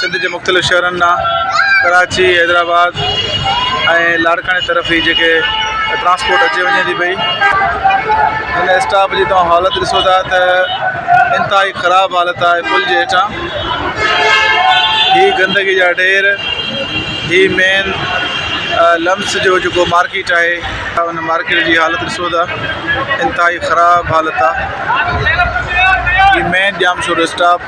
سنڌ جي مختلف شهرن ڏانهن ڪراچي حيدرآباد ۽ لاڙڪاڻي طرف هي جيڪي ٽرانسپورٽ اچي وڃي ٿي پئي هن اسٽاپ جي توهان حالت ڏسو ٿا ته انتهائي خراب حالت آهي پل جي هيٺان هي گندگي جا ڍير هي مين لمس جو جيڪو مارڪيٽ آهي ان مارڪيٽ جي حالت ڏسو ٿا انتهائي خراب حالت آهي مين ڄام شور اسٽاپ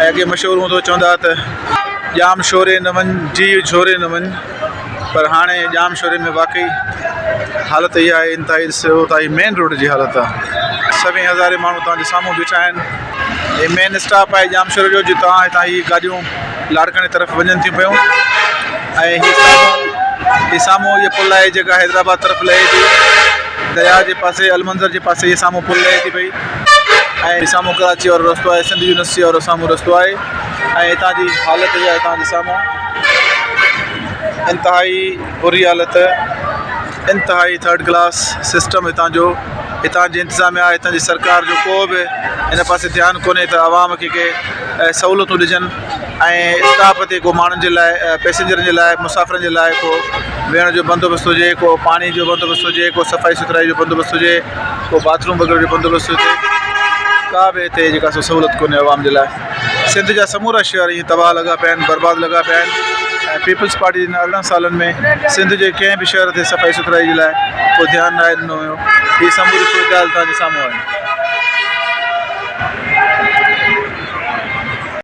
۽ اڳي مشهور هوندو چوندا ته ڄام شوري نه وڃ جيء جهوري نه وڃ پر هاڻي ڄام شوري ۾ واقعي حالت اها آهي انتهائي ڏسو ته هي مين روڊ جي حالت آهي سوين هزارين ماڻهو توهان جي سامهون بيٺا آهن هي مين اسٽاپ آهي ڄام شوري جو جتان هتان هي گاڏيون لاڙڪاڻي طرف وڃن ٿيون پيون ۽ هي سامهون هي سامهون هي پل آهي جيڪا حيدرآباد طرف لهي ٿي درياء جي پاسي المنظر جي پاسي هي سامهون پل لهي ٿي پئي ۽ سامهون ڪراچيء وارو رستو آهي، سنڌ يونيورسٽيء وارو سامهون رستو آهي ۽ هتان جي حالت جا هتان جي سامهون انتهائي بري حالت، انتهائي ٿرڊ ڪلاس سسٽم هتان جو، هتان جي انتظاميا، هتان جي سرڪار جو ڪو به هن پاسي ڌيان ڪونهي ته عوام کي ڪي سهولتون ڏجن. ۽ اسٽاپ تي ڪو ماڻهن جي لاء پئسينجرن جي لاء مسافرن جي لاء ڪو ويهڻ جو بندوبست هجي ڪو پاڻي جو بندوبست هجي ڪو صفائي سٿرائي جو بندوبست هجي ڪو باٿروم وغيره جو بندوبست هجي ڪا به هتي جيڪا سو سهولت ڪونهي عوام جي لاء سنڌ جا سمورا شهر ائين تباهه لڳا پيا آهن برباد لڳا پيا آهن ۽ پيپلز پارٽي جن ارڙهن سالن ۾ سنڌ جي ڪنهن به شهر تي صفائي سٿرائي جي لاء ڪو ڌيان ناهي ڏنو هيو هي سموري صورتحال تان جي سامهون آهي